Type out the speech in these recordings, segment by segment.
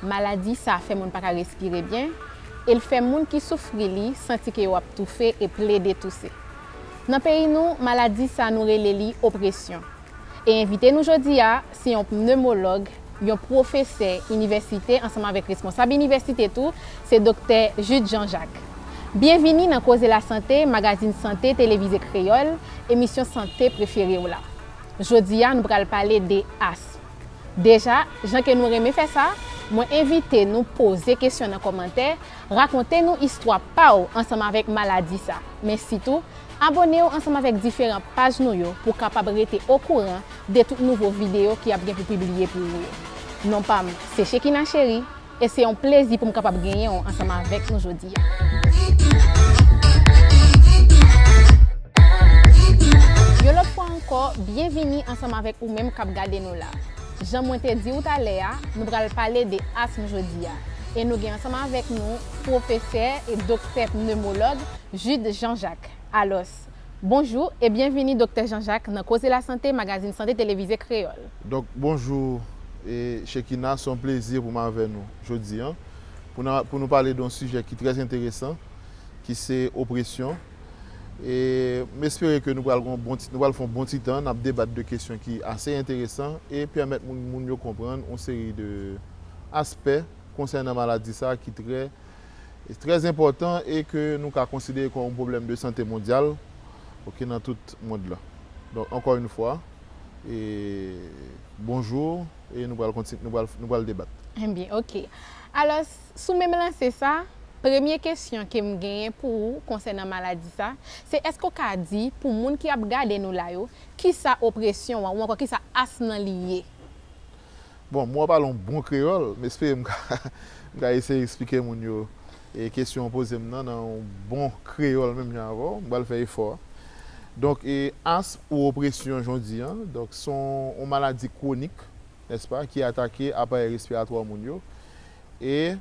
Maladi sa fè moun pa ka respire byen e l fè moun ki soufri li santi ke yo ap toufe e plede touse. Nan peyi nou, maladi sa nou rele li opresyon. E envite nou jodi a se yon pnemològ, yon pwofesè inivèsite ansanm avèk responsab inivèsite tou, se Doktè Jude Jean Jacques. Byenvini nan Koze Lasante, magazin sante televize kreyòl, emisyon sante prefere w la. Jodi a nou pral pale de asm. Deja, jan ke nou renmen fè sa, mwen envite nou poze kesyon nan kòmantè, rakonte nou istwa pa w ansanm avèk maladi sa. Men sitou, abone w ansanm avèk diferan paj nou yo pou w kapab rete okouran de tout nouvo videyo ki ap gen pou pibliye pou ou yo. Non pa m se Shekina Chery, E se yon plezi pou m kapab genyen w ansanm avèk nou jodi a. Yon lòt fwa ankò, byenvini ansanm avèk ou menm k ap gade nou la. Jan mwen te di ou talè a, nou pral pale de asm jodi a. E nou gen ansanm avèk nou pwofesè e doktè pnemològ Jude Jean Jacques. Alòs, Bonjou e byenvini Doktè Jean Jacques nan Koze Lasante, magazin sante televize kreyòl. Dòk, bonjou e Shekinah, se yon plezi pou m avè nou jodi an pou n pou nou pale de yon sijè ki trè enteresan ki se opresyon e m espere ke nou pral gen yon bon ti nou pral fè yon bon ti tan n ap debat de kesyon ki ase enteresan e pèmèt moun moun yo konprann yon seri de aspè konsènan maladi sa a ki trè trè enpòtan e ke nou ka konsidere kòm yon pwoblèm de sante mondyal ok nan tout mond la. Donk ankò yn fwa e bonjou e nou pral konti nou pral nou pral debat. Enbyen ok. Alòs sou menm lanse sa, premye kesyon ke m genyen pou ou konsènan maladi sa, se èske ou ka di pou moun ki ap gade nou la yo kisa opresyon an ou ankò kisa asthme lan li ye? Bon, mwen pale yon bon kreyòl, m espere m ka eseye eksplike moun yo kesyon ou poze m nan nan yon bon kreyòl menm jan avè w. M pral fè efò a. Donk, asm ou opresyon jan w di an, donk se yon maladi kwonik, nèspa, ki atake aparèy respiratwa moun yo e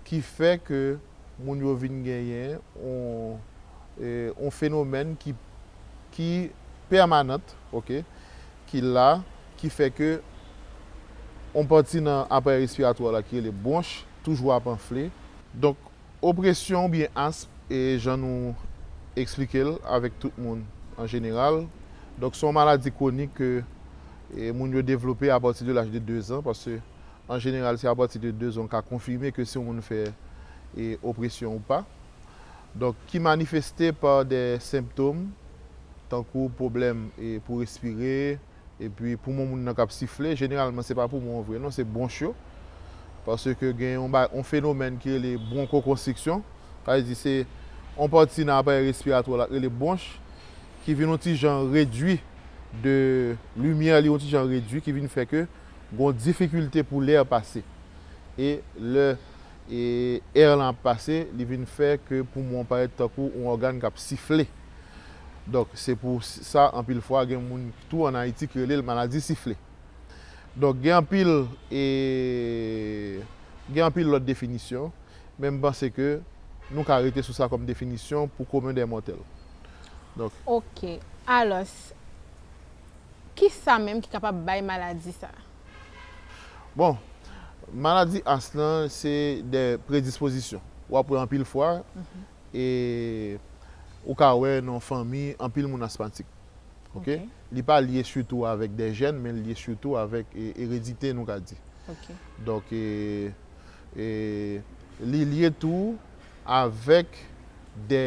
ki fè ke moun yo vin genyen yon fenomèn ki pèmanant, oke. ki la, ki fè ke yon pati nan aparèy respiratwa w la ki rele bwonch toujou ap anfle. Donk, opresyon oubyen asm, e jan nou eksplike l avèk tout moun an jeneral, donk se yon maladi kwonik ke moun yo devlope apati de laj de dezan, paske an jeneral se apati de dezan ou ka konfime ke si yon moun fè opresyon ou pa. donk ki manifeste pa de senptom tankou pwoblèm pou respire epi poumon moun nan k ap sifle, jeneralman se pa poumon an vre non se bwonch yo paske gen yon fenomèn ki rele bwonkokonstriksyon sa vle di se yon pati nan aparèy respiratwa w la k rele bwonch ki vin yon ti jan redui de limyè li yon ti jan redui ki vin fè ke gen yon difikilte pou lè pase e lè. e èr lan ap pase li vin fè ke poumon an parèt tankou on ògàn kap sifle donk se pou sa anpil fwa gen moun tou an Ayiti ki rele l maladi sifle donk gen anpil e gen anpil lòt definisyon men m panse ke nou ka rete sou sa kòm definisyon pou komen dè mòtèl donk. Ok alòs kisa menm ki kapab bay maladi sa? Bon, maladi as lan se de predispozisyon. Ou ap wè anpil fwa, e ou ka wè nan yon fanmi anpil moun asmatik. Ok? Li pa lye sitou avèk de jèn, men li lye sitou avèk eredite nou ka di. Donk, li lye tou. avèk de,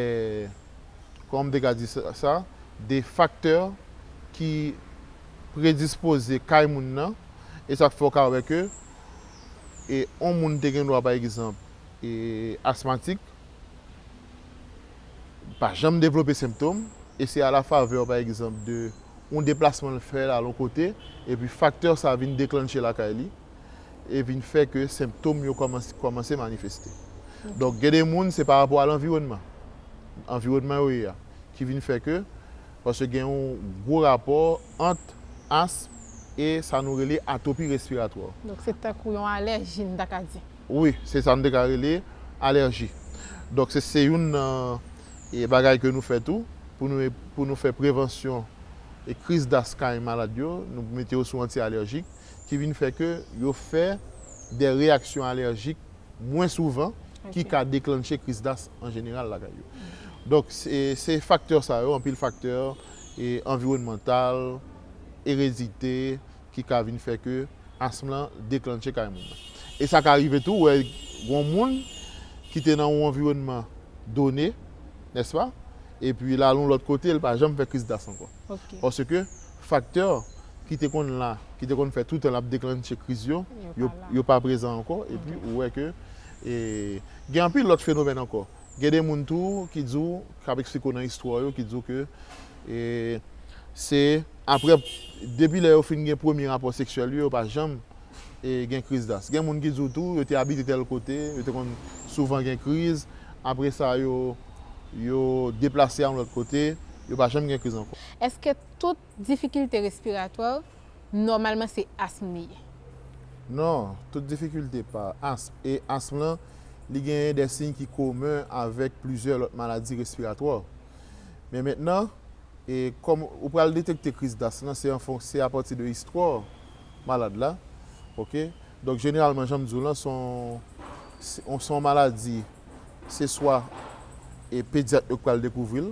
kòman m te ka di sa, de faktè ki predispoze kay moun nan, e sa k fè w ka wè ke yon moun te gen dwa pa egzanp asmatik, pa janm devlope senptom, e se a la favè pa egzanp de yon deplasman l fè al yon kote, epi faktè sa vin deklannche lakay li. e vin fè ke senptom yo kòmanse manifeste. Donk gen de moun se pa rapò a lanviwònman, anviwònman yo ye a ki vin fè ke, paske gen yon gwo rapò ant asm e sa nou rele atopi respiratwa. Donk se tankou yon alèji nou ta ka di. Wi, se sa nou te ka rele alèji. Donk se se youn nan e bagay ke nou fè tou pou nou pou nou fè prevansyon e kriz das kay malad yo, nou mete yo sou anti alèjik ki vin fè ke yo fè de reyaksyon alèjik mwen souvan ki ka deklanche kriz das an jeneral lakay yo. Donk se faktè sa yo, anpil faktè anviwònmantal, eredite ki ka vin fè ke asm lan deklanche kay moun nan. E sa ka rive tou wè gon moun ki te nan yon anviwònman done, nèspa, epi l al yon lòt kote, l pa janm fè kriz das ankò. Paske. Faktè ki te konn la, ki te konn fè toutan l ap deklannche kriz yo, yo pa prezan ankò. Epi ou wè ke gen anpil lòt fenomèn ankò. Gen de moun tou ki di w, k ap eksplike w nan istwa yo, ki di w ke se apre, depi lè yo fin gen premye rapò seksyèl yo, yo pa janm gen kriz das. Gen moun ki di w tou yo te abite tèl kote, yo te konn souvan gen kriz, apre sa yo deplase al yon lòt kote, yo pa janm gen kriz ankò. Èske Tout difikilte respiratwa nòmalman se asm li ye. Non, tout difikilte pa asm. E asm lan, li genyen de siy ki komen avèk plizyè lòt maladi respiratwa. Men mentnan, kòm ou pral detekte kriz d'asm lan, se an fon, se apati de istwa malad la. Ok. Donk jeneralman jan m di w lan, son, son maladi, se swa pedyat yo k pral dekouvri l.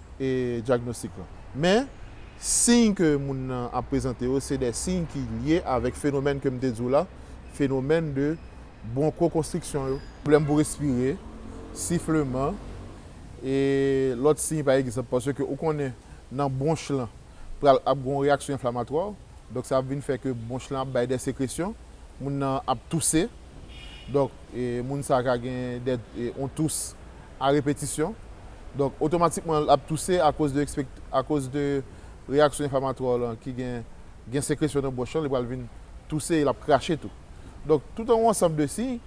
dyagnostik lan. Men, siy ke moun nan ap prezante yo se de siy ki lye avèk fenomèn ke m te di w la, fenomèn de bronkokonstriksyon yo. Pwoblèm pou respire, sifleman, e lòt siy pa egzanp. Paske ou konnen nan bwonch lan pral ap gen yon reyaksyon enflamatwa, donk sa ap vin fè ke bwonch lan ap bay de sekresyon, moun nan ap touse, donk moun sa ka gen de yon tous. a repetisyon. Donk, otomatikman l ap touse akoz de ekspekt, akoz de reyaksyon enflamatwa w lan ki gen, gen sekresyon nan bouch lan, li pral vin touse e l ap krache tou. Donk, tout an yon ansanm de siy,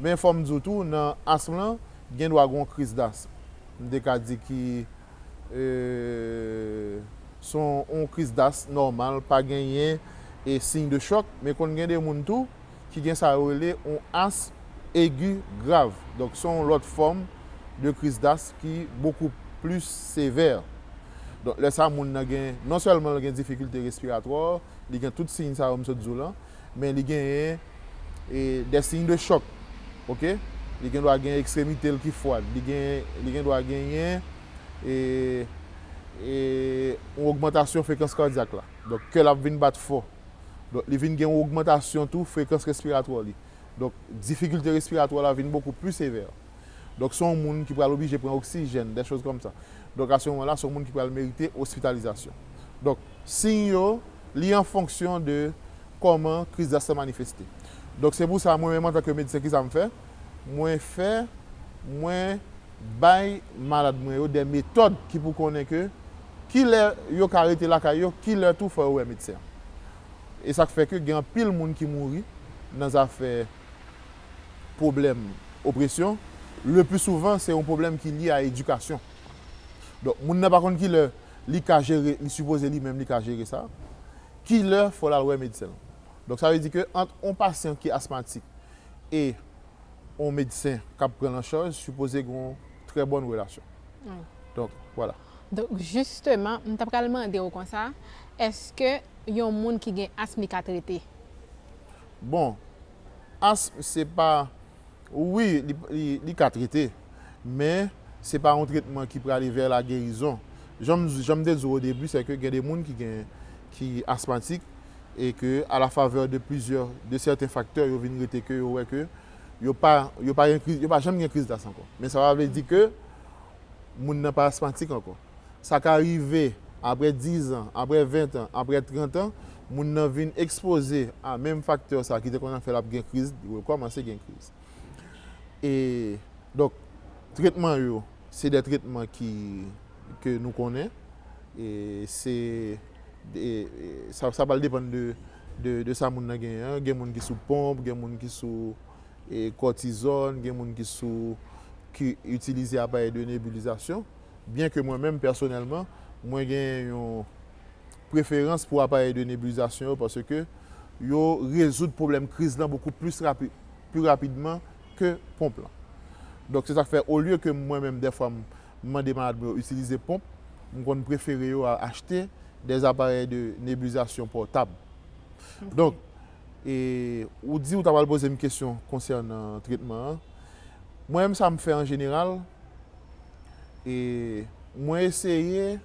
men fò m di w tou nan asm lan, gen dwa gen yon kriz dasm, m te ka di ki, e, s on, yon kriz dasm nòmal, pa genyen e siy de chòk, men konn gen de moun tou, ki gen sa yo rele yon asm egi grav, donk se yon lòt fòm de kriz dasm ki bokou plis sevè. Donk lè sa moun nan gen, non sèlman l gen difikilte respiratwa, li gen tout siy sa yo m sot di w lan, men li genyen des signes de choc ok, li gen dwa gen ekstremite l ki fwad, li gen li gen dwa genyen yon ogmantasyon frekans kadyak la, donk kè l ap vin bat fò. Donk li vin gen yon ogmantasyon tou frekans respiratwa li. Donk difikilte respiratwa la vin bokou pli sevè. Donk se yon moun ki pral oblije pran oksijèn, dè choz kòm sa. Donk a se moman la se yon moun ki pral merite ospitalizasyon. Donk siy yo li an fonksyon de kòman kriz das la manifeste. Donk se pou sa mwen menm antanke medsen ki sa m fè? Mwen fè, mwen bay malad mwen yo dè metòd ki pou konnen ke. Kilè yo ka rete lakay yo, kilè tou fò yo wè medsen an. E sa k fè ke gen anpil moun ki mouri nan zafè pwoblèm opresyon, le pli souvan se yon pwoblèm ki lye a edikasyon. Donk moun nan pa konn kilè li ka jere, li sipoze li menm li ka jere sa, kilè fò l al wè medsen l. Donk sa vle di ke ant yon pasyan ki asmatik e yon medsen k ap pran l an chaj sipoze gen yon trè bòn relasyon. Donk, wala. Donk jisteman m ta pral mande w konsa, èske yon moun ki gen asm li ka trete? Bon, asm se pa, wi li ka trete, men se pa yon tretman ki prale vè la gerizon. Jan m te di w o debi se ke gen de moun ki gen, ki asmatik e ke a la favè de plizyè, de sèten faktè yo vin rete ke yo wè ke yo pa, yo pa janm gen kriz d'asm ankò. Men sa pa vle di ke. moun nan pa asmatik ankò. Sa ka rive apre dizan, apre ventan, apre trantan, moun nan vin ekspoze a menm faktè sa ki te konn ap fè l ap gen kriz, li rekòmanse gen kriz. E donk tretman yo se de tretman ki ke nou konnen e se e sa pral depann de de sa moun nan genyen an. Gen moun ki sou ponp, gen moun ki sou. kòtizòn, gen moun ki sou ki itilize aparèy de nebulizasyon, byen ke mwen menm pèsonèlman mwen gen yon preferans pou aparèy de nebulizasyon yo paske yo rezoud pwoblèm kriz lan bokou plis rapid pi rapidman ke ponp lan. Donk se sak fè olye ke mwen menm dèfwa m mande malad mwen yo itilize ponp, m konn prefere yo achte dè aparèy de nebulizasyon pòtab. Donk. E ou di ou ta pral poze m kesyon konsènan tretman an. Mwen menm sa m fè an jeneral, e mwen eseye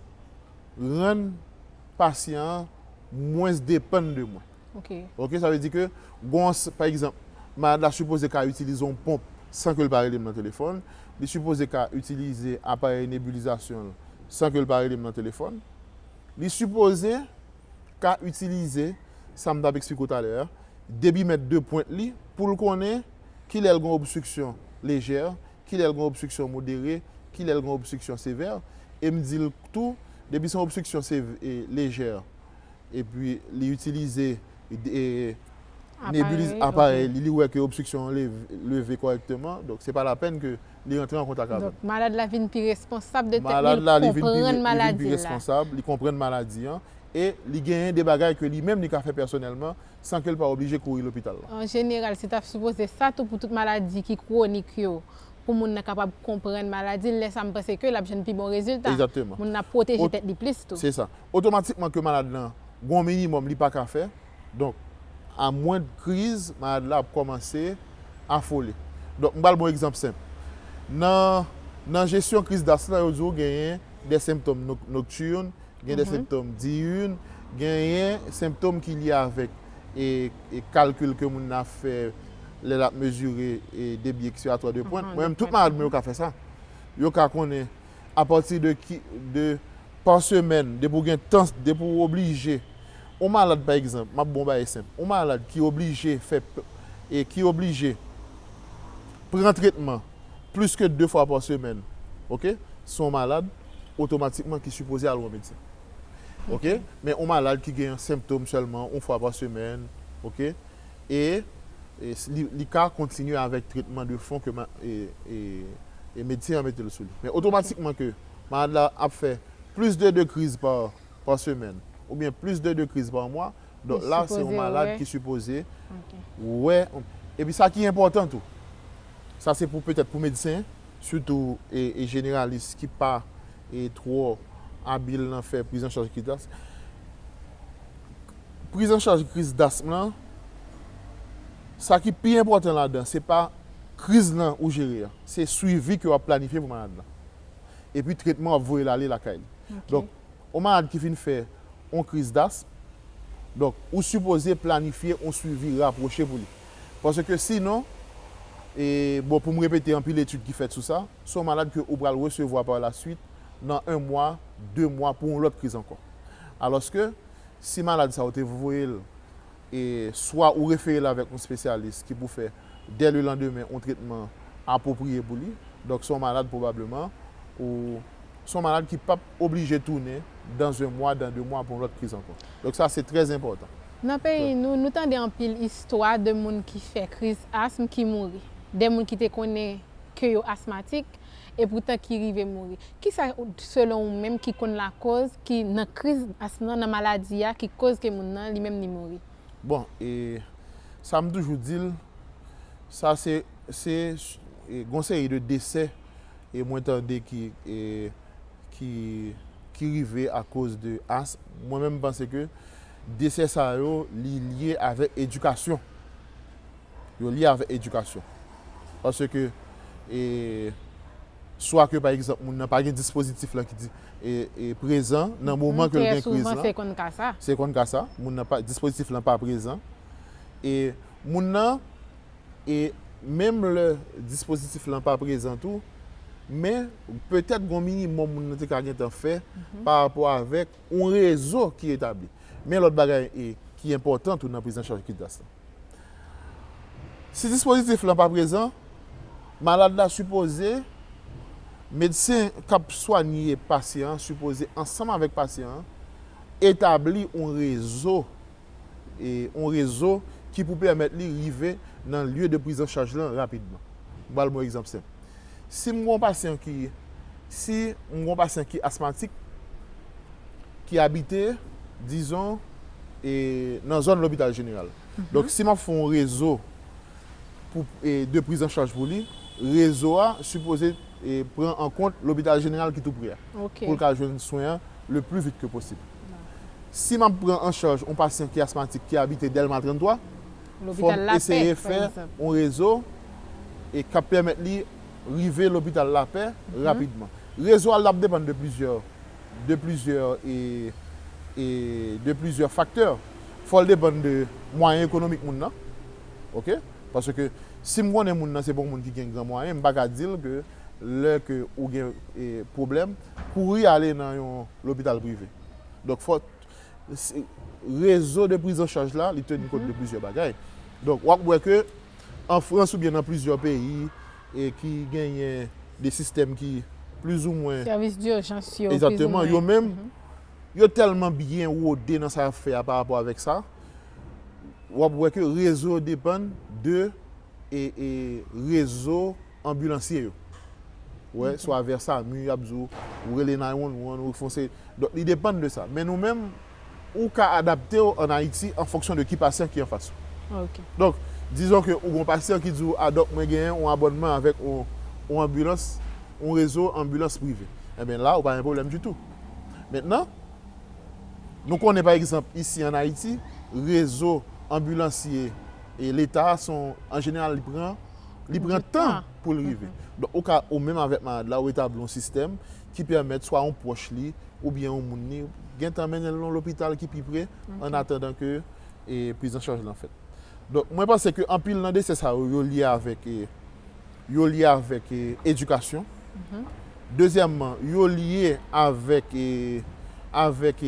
rann pasyan an mwens depann de mwen. Ok, sa vle di ke gon yon, pa egzanp, malad la sipoze ka itilize yon ponp san ke l pa rele m nan telefòn, li sipoze ka itilize aparèy nebilizasyon l san ke l pa rele m nan telefòn, li sipoze ka itilize, sa m t ap eksplike w talè a, debimèt de pwent li pou l konnen ki lè l gen obstriksyon lejè, ki lè l gen obstriksyon modere, ki lè l gen obstriksyon sevè. E m di l tou, depi se yon obstriksyon lejè epi li itilize nebilis, aparèy li, li wè ke obstriksyon an leve kòrèkteman, donk se pa lapenn ke. li rantre an kontak avè m. Donk, malad la vin pi responsab de tèt li, li konprann maladi l la. Li konprann maladi an e li genyen de bagay ke li menm li ka fè pèsonèlman san ke l pa oblije kouri lopital la. An jeneral, se t ap sipoze sa tou pou tout maladi ki kwonik yo, pou moun nan kapab konprann maladi l, lè sa m panse ke l ap jwenn pi bon rezilta. Moun nan ap pwoteje tèt li plis tou. Se sa. Otomatikman ke malad lan gen yon minimòm li pa ka fè, Donk, a mwen de kriz, malad la ap kòmanse afole. Donk, m pral ba w egzanp senp. Nan nan jesyon kriz das la, yo di w genyen de senptòm noktirn, gen de senptòm diyirn, genyen senptòm ki lye avèk e kalkil ke moun nan ap fè lè l ap mezire debi eskiratwa de pwent. Mwen menm, tout malad mwen yo ka fè sa. Yo ka konnen. apati de ki de pa semèn depi ou gen tan depi ou oblije ou malad pa egzanp map ba w bagay senp ou malad ki oblije fè e ki oblije pran tretman plis ke de fwa pa semèn ok se yon malad otomatikman ki sipoze al wè yon medsen ok men yon malad ki gen senptom sèlman yon fwa pa semèn ok. E li ka kontinye avèk tretman de fon ke medsen an mete l sou li. Men otomatikman ke malad la ap fè plis de 2 kriz pa semèn oubyen plis de 2 kriz pa mwa, donk la se yon malad ki sipoze wè. Epi sa ki enpòtan tou, sa se pou petèt pou medsen, sitou jeneralis ki pa twò abil nan fè prizanchaj ki tas. Prizanchaj kriz dasm lan, sa ki pi enpòtan ladan se pa kriz lan ou jere a, se swivi ke w ap planifye pou malad lan. Epi tretman w ap voye l ale lakay li. Donk, yon malad ki fin fè yon kriz dasm, donk ou sipoze planifye yon swivi rapwoche pou li. Paske sinon, e bon pou m repete anpil etid ki fèt sou sa, se yon malad ke ou pral resevwa par la swit nan 1 mwa, 2 mwa pou yon lòt kriz ankò. Alòske. Si malad sa ou te voye l, e swa ou refere l avèk yon spesyalis ki pou fè dè le landemen yon tretman apwopriye pou li. Donk se yon malad pwobableman ou se yon malad ki pap oblije tounen dans 1 mwa, dans 2 mwa pou yon lòt kriz ankò. Donk sa se trè enpòtan. Nan peyi nou, nou tande anpil istwa de moun ki fè kriz asm ki mouri. Dè moun ki te konnen ke yo asmatik, e poutan ki rive mouri. Kisa selon ou menm ki konn lakoz ki nan kriz asm nan, nan maladi a ki koz ke moun nan li menm li mouri? Bon, e sa m toujou di l, sa se, se gon seri de desè e mwen tande ki e ki ki rive akoz de asm, mwen menm m panse ke desè sa yo li lye avèk edikasyon. yo lye avèk edikasyon. Paske swa ke pa egzanp moun nan pa gen dispozitif lan ki di prezan nan moman ke l gen kriz lan. Se konn ka sa. Moun nan pa, dispozitif lan pa prezan. E moun nan, e menm lè dispozitif lan pa prezan tou, men petèt gon minimòm moun nan te ka gentan fè pa rapò avèk yon rezo ki etabli. Men lòt bagay ki enpòtan tou nan priz an chaj kidas lan. Si dispozitif lan pa prezan, malad la sipoze, medsen k ap swanye pasyan an sipoze ansanm avèk pasyan an etabli yon rezo yon rezo ki pou pèmèt li rive nan lye de prizanchaj lan rapidman. M pral ba w yon egzanp senp. Si m gen yon pasyan ki, si m gen yon pasyan ki asmatik, ki abite, dizon, e nan zòn lopital jeneral. Donk si m ap fè yon rezo pou, e de priz an chaj pou li, rezo a sipoze e pran an kont lopital jeneral ki tou pre a. Ok. Pou l ka jwenn swen an le pli vit ke posib. Si m ap pran an chaj yon pasyan ki asmatik ki abite Dèlma 33, fò n eseye fè yon rezo k ap pèmèt li rive lopital Lapè rapidman. Rezo a l ap depann de plizyè faktè. Fò l depann de mwayen ekonomik moun nan. Paske si m konnen moun nan se pa yon moun ki gen gran mwayen, m pa ka di l ke lè ke ou gen pwoblèm, kouri ale nan yon lopital prive. rezo de priz an chaj la, li teni kont de plizyè bagay. Donk, w ap wè ke an Frans oubyen nan plizyè peyi ki genyen de sistèm ki plizoumwen. Sèvis dijans yo, plizoumwen. Egzakteman. Yo menm, yo tèlman byen wode nan sa y ap fè a pa rapò avèk sa, w ap wè ke rezo depann de. rezo anbilansye yo. Wè, swa vè samu y ap di w, ou rele 911, ou fon seri. Donk li depann de sa. Men nou menm, ou ka adapte w an Ayiti an fonksyon de ki pasyan ki anfas ou. Donk, dizon ke ou gen yon pasyan ki di w, a dòk mwen genyen yon abònman avèk yon anbilans, yon rezo anbilans prive. Enben la, ou pa gen pwoblèm ditou. Mentnan, nou konnen pa egzanp isi an Ayiti, rezo anbilansye, e leta a son an jeneral li pran li pran tan pou l rive. Donk ou ka ou menm avèk malad la ou etabli yon sistèm ki pèmèt swa yon pwòch li oubyen yon moun li gentan mennen l nan lopital ki pi pre an atandan ke prizanchaj lan fèt. Donk mwen panse ke anpil nan dese sa yo yo lye avèk yo lye avèk edikasyon. Dezyèmman yo lye avèk avèk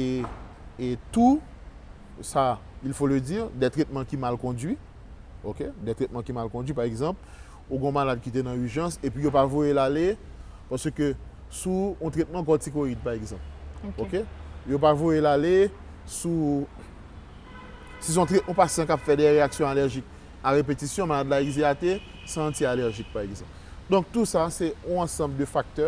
tou sa, il faut le dire, dè tretman ki mal kondui, ok, dè tretman ki mal kondui, pa egzanp, ou gen yon malad ki te nan ijans epi yo pa voye l ale paske sou yon tretman kòtikoyid, pa egzanp, ok, yo pa voye l ale sou, si se yon trè, yon pasyan k ap fè dè reyaksyon alèjik a repetisyon, malad la egzeyate san anti-alèjik, pa egzanp. Donk tou sa se yon ansanm de faktè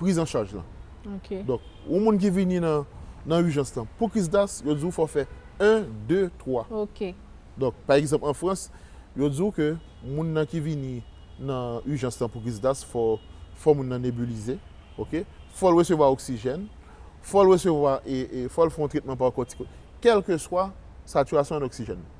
priz an chaj lan. Donk, yon moun ki vini nan ijans lan pou kriz das, yo di ou fò w fè 1, 2, 3. Donk, pa egzanp an Frans, yo di ou ke moun nan ki vini nan ijans lan pou kriz das fò fò moun nan nebilize, fò l resevwa oksijèn, fò l resevwa, fò l fè yon tretman pa kòtikoid, kèlkeswa satirasyon an oksijèn nan.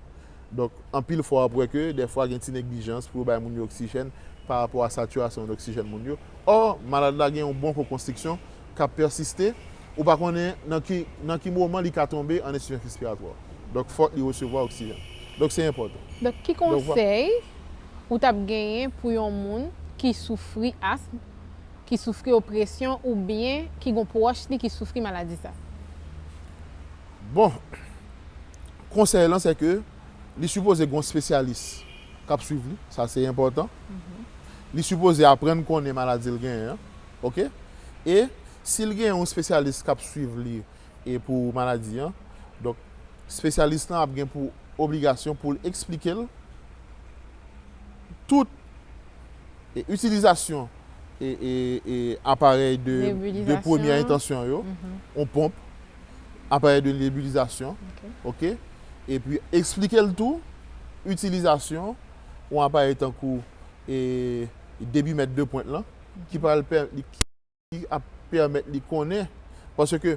Donk, anpil fwa w ap wè ke dèfwa gen ti neglijans pou yo bay moun yo oksijèn pa rapò a satirasyon an oksijèn moun yo. Ò, malad la gen yon bon ko konstriksyon k ap pèsiste, ou pa konnen nan ki nan ki moman li ka tonbe an ensifizans respiratwa. Donk, fòk li resevwa oksijèn. Donk, se enpòtan. Donk, ki konsèy ou t ap genyen pou yon moun ki soufri asm, ki soufri opresyon oubyen ki gen yon pwòch li ki soufri maladi sa? Bon! Konsèy lan se ke li sipoze gen yon spesyalis k ap swiv li, sa se enpòtan. Li sipoze aprann konnen maladi l genyen an. Ok. E si l gen yon spesyalis k ap swiv li e pou maladi an, donk spesyalis lan ap gen pou obligasyon pou l eksplike l tout e itilizasyon e aparèy de premyè entansyon yo, yon ponp, aparèy de nebilizasyon ok epi eksplike l tou itilizasyon yon aparèy tankou debimèt de pwent lan ki pral pèmèt li konnen paske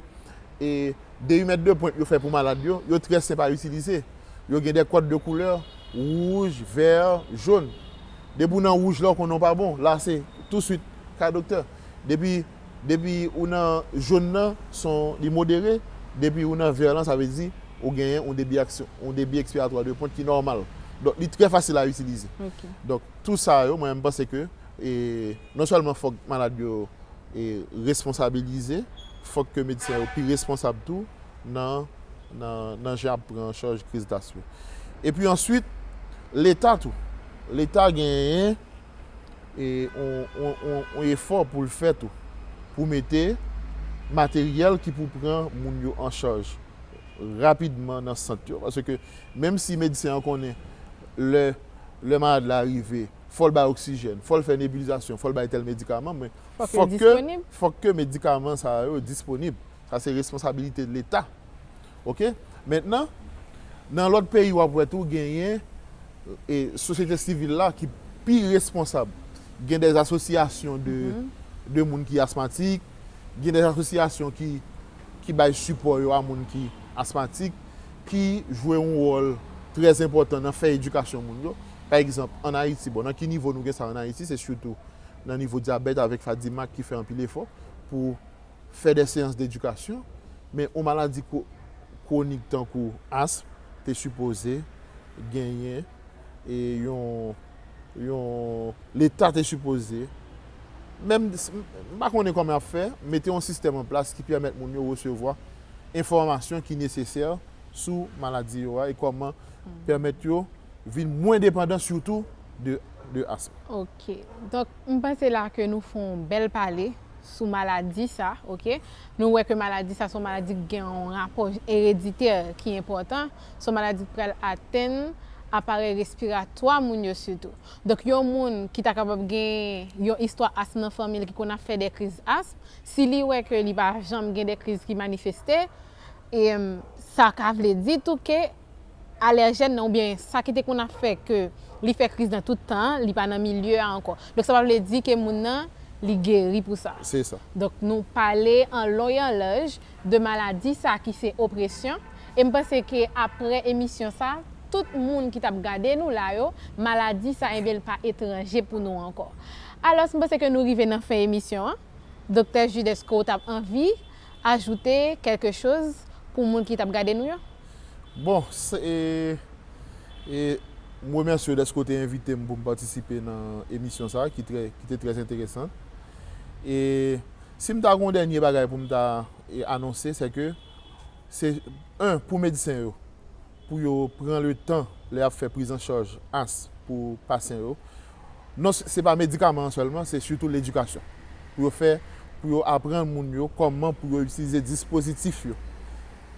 debimèt de pwent yo fè pou malad yo yo trè senp a itilize yo gen de kòd de koulè wouj vè jon depi w nan wouj la w konnen w pa bon la se touswit kay doktè depi Depi ou nan jone nan son li modere, depi ou nan vert lan sa vle di ou genyen yon debi yon debi ekspiratwa de pwent ki nòmal. Donk li trè fasil a itilize. Donk tou sa yo mwen menm panse ke non sèlman fòk malad yo responsabilize, fòk ke medsen yo pi responsab tou nan nan jan yap pran an chaj kriz das yo. Epi answit leta tou, leta genyen. e yon efò pou l fè tou pou mete materyèl ki pou pran moun yo an chaj rapidman nan sant yo paske menm si medsen an konnen lè malad la rive fò l bay oksijèn, fò l fè nebilizasyon, fò l bay tèl medikaman men fòk ke medikaman sa yo disponib sa se responsabilite leta Ok mentnan nan lot peyi wap wè tou genyen sosyete sivil la ki pi responsab gen des asosyasyon de moun ki asmatik gen des asosyasyon ki bay sipò yo a moun ki asmatik ki jwe yon wòl trè enpòtan nan fè edikasyon moun yo pa egzanp an ayiti bon nan ki nivo nou gen sa an ayiti se sitou nan nivo dyabèt avèk fadimak ki fè anpil efò pou fè dè seyans dedikasyon, men yon maladi kwonik tankou asm te sipoze genyen yon Leta te sipoze, menm m pa konnen kòman y ap fè, mete yon sistèm an plas ki pèmèt moun yo resevwa enfòmasyon ki nesesè sou maladi yo a e kòman pèmèt yo vin mwen depandan sitou de asm. Ok donk m panse la ke nou fon bèl pale sou maladi sa ok nou wè ke maladi sa son maladi ki gen yon rapò ereditè ki enpòtan son maladi ki pral atenn aparèy respiratwa moun yo sitou donk yon moun ki ta kapab gen yon istwa asm nan fanmi l ki konn ap fè de kriz asm si li wè ke li pa janm gen de kriz ki manifeste sa ka vle di tou ke. alèjèn nan oubyen sa ki te konn ap fè ke li fè kriz nan tout tan an, li pa nan milye a ankò. Donk sa pa vle di ke moun nan li geri pou sa. Se sa. Donk nou pale an lon e an laj de maladi sa ki se opresyon e m panse ke aprè emisyon sa tout moun ki t ap gade nou la yo maladi sa enben l pa etranje pou nou ankò. Alòs m panse ke nou rive nan fen emisyon an. Doktè Jude èske ou t ap anvi ajoute kèlke choz pou moun ki tap gade nou yo? Bon, se e m remèsye w dèske w te envite m pou m patisipe nan emisyon sa ki trè ki te trè enteresan. E si m ta gen yon dènye bagay pou m ta anonse sè ke se 1 pou medsen yo pou yo pran le tan lè y ap fè prizancharj asm pou pasyan yo. Non se pa medikaman an sèlman, se sitou ledikasyon pou yo fè, pou yo aprann moun yo kòman pou yo itilize dispozitif yo.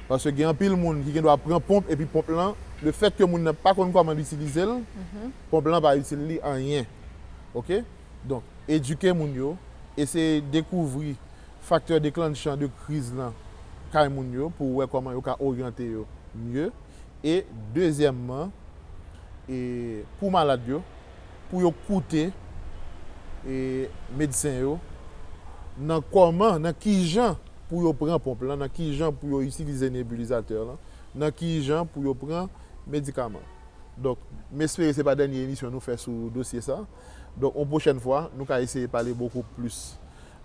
Paske gen anpil moun ki gendwa pran ponp epi ponp lan, lefèt ke moun nan pa konn kòman l itilize l, ponp lan va itil li anyen. Ok? Donk, edike moun yo, eseye dekouvri. Faktè deklanchan de kriz lan kay moun yo pou wè kòman yo ka oryante yo mye e dezyèmman e pou malad yo pou yo koute e medsen yo nan kòman nan kijan pou yo pran ponp lan nan kijan pou yo itilize nebulizatè lan nan kijan pou yo pran medikaman donk m espere se pa dènye emisyon nou fè sou dosye sa. Donk yon pwochèn fwa, nou ka eseye pale bokou plis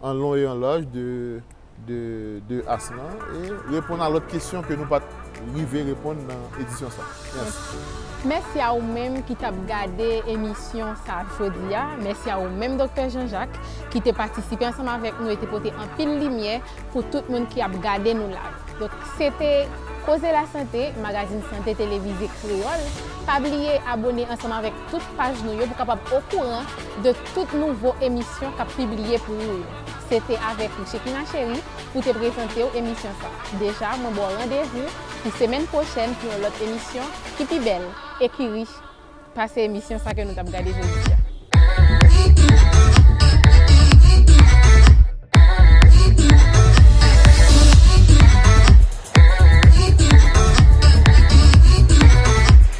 an lon e an laj de as lan e reponn a lòt kesyon ke nou pa t rive reponn nan edisyon sa. Mèsi. Mèsi a ou menm ki t ap gade emisyon sa jodi a. Mèsi a ou menm Doktè Jean Jacques ki te patisipe ansanm avèk nou e te pote anpil limyè pou tout moun ki ap gade nou la. Donk se te Koze Lasante, magazin sante televize kreyòl. Pa bliye abone ansanm avèk. tout paj nou yo pou kapab okouran de tout nouvo emisyon kap pibliye pou ou yo. Se te avèk ou Shekina Cherie pou te prezantew emisyon sa. Deja mwen baw randevou pou semèn pwochèn pou yon lòt emisyon ki pi bèl e ki rich pase emisyon sa ke nou tap gade jodi a.